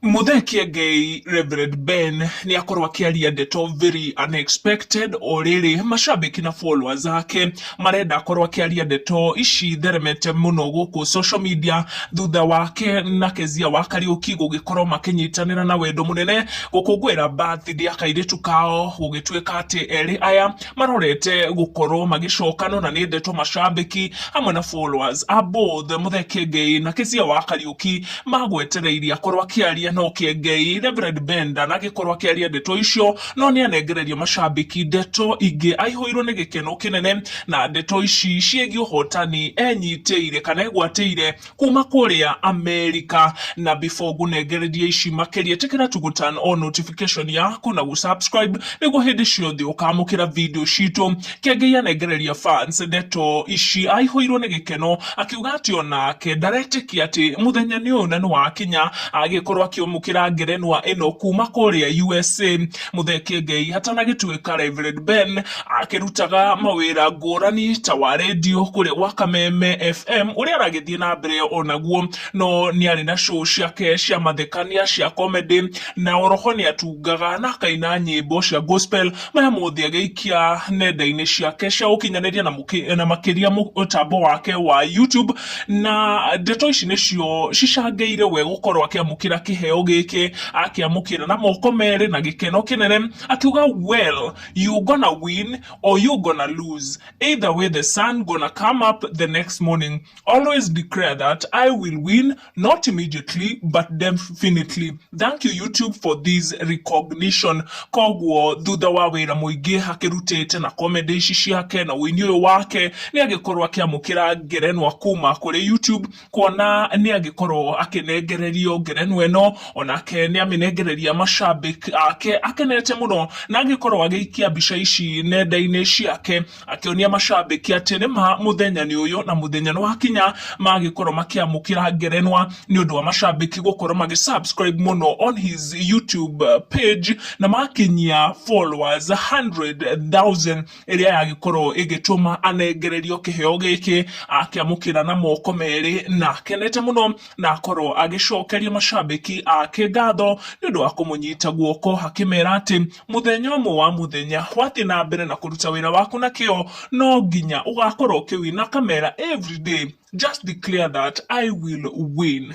Mũthekia Ngei Reverend Ben nĩ akorwo akĩaria ndeto very unexpected o rĩrĩ macambĩki na followers ake marenda akorwo akĩaria ndeto ici theremete mũno gũkũ social media thutha wake na Kezia wa Kariũki gũgĩkorwo makĩnyitanĩra na wendo mũnene gũkũngũĩra birthday ya kairĩtu kao gũgĩtuĩka atĩ erĩ aya marorete gũkorwo magĩcokana na nĩ ndeto macambĩki hamwe na followers a both Mũthekia Ngei na Kezia wa Kariũki magwetereirie akorwo akĩaria no kĩengei Reverend Benda nagĩkorwo akĩaria ndeto icio no nĩ anengererio macambĩki ndeto ingĩ aihũirwo nĩ gĩkeno kĩnene na ndeto ici ciĩgiĩ ũhotani enyitĩire kana egwatĩire kuma kũrĩa Amerika na before ngũnengererie ici makĩria tĩkĩra tu gũturn on notification yaku na gũ subscribe nĩguo hĩndĩ ciothe ũkamũkĩra video citũ Nake Ngai anengereria fans ndeto ici aihũirwo nĩ gĩkeno akiuga atĩ onake ndaretĩkia atĩ mũthenya nĩ ũyũ na nĩ wakinya agĩkorwo akĩamũkĩra ngerenwa ĩno kuma kũrĩa USA. Mũtheke Ngai hatanagĩtuĩka Reverend Ben akĩrutaga mawĩra ngũrani ta wa rendio kũrĩa gwa Kameme FM ũrĩa aragĩthiĩ na mbere onaguo no nĩ arĩ na show ciake cia mathekania cia comedy na oroho nĩ atungaga na akaina nyĩmbo cia gospel Maya mothe agĩikia nenda-inĩ ciake cia ũkinyanĩria na mũkĩ- na makĩria mũtambo wake wa YouTube na ndeto ici nĩcio cicangĩire we gũkorwo akĩamũkĩra kĩheo gĩkĩ akĩamũkĩra na moko merĩ na gĩkeno kĩnene akiuga well you gonna win or you gonna lose either way the sun gonna come up the next morning always declare that I will win not immediately but definitely thank you youtube for this recognition koguo thutha wa wira muingi akirutite na comedy ici ciake na wini uyu wake ni agikorwo akiamukira ngerenwa kuma kuri youtube kuona ni agikorwo akinengererio ngerenwa ino onake ni aminengereria mashabik ake akenete muno na agikorwo agiikia mbica ici nenda-ini ciake akĩonia macambĩki atĩ nĩ ma mũthenya nĩ ũyũ na mũthenya nĩ wakinya magĩkorwo makĩamũkĩra ngerenwa nĩ ũndũ wa macambĩki gũkorwo magĩ subscribe mũno on his YouTube uh, page na makinyia followers 100,000 ĩrĩa yagĩkorwo ĩgĩtũma anengererio kĩheo gĩkĩ akĩamũkĩra na moko merĩ na akenete mũno na akorwo agĩcokeria macambĩki ake ngatho nĩ ũndũ wa kũmũnyita guoko akĩmera atĩ Mũthenya ũmwe wa mũthenya, wathiĩ na mbere na kũruta wĩra waku na kĩo, no nginya ũgakorwo ũkĩwina, kamera everyday just declare that I will win.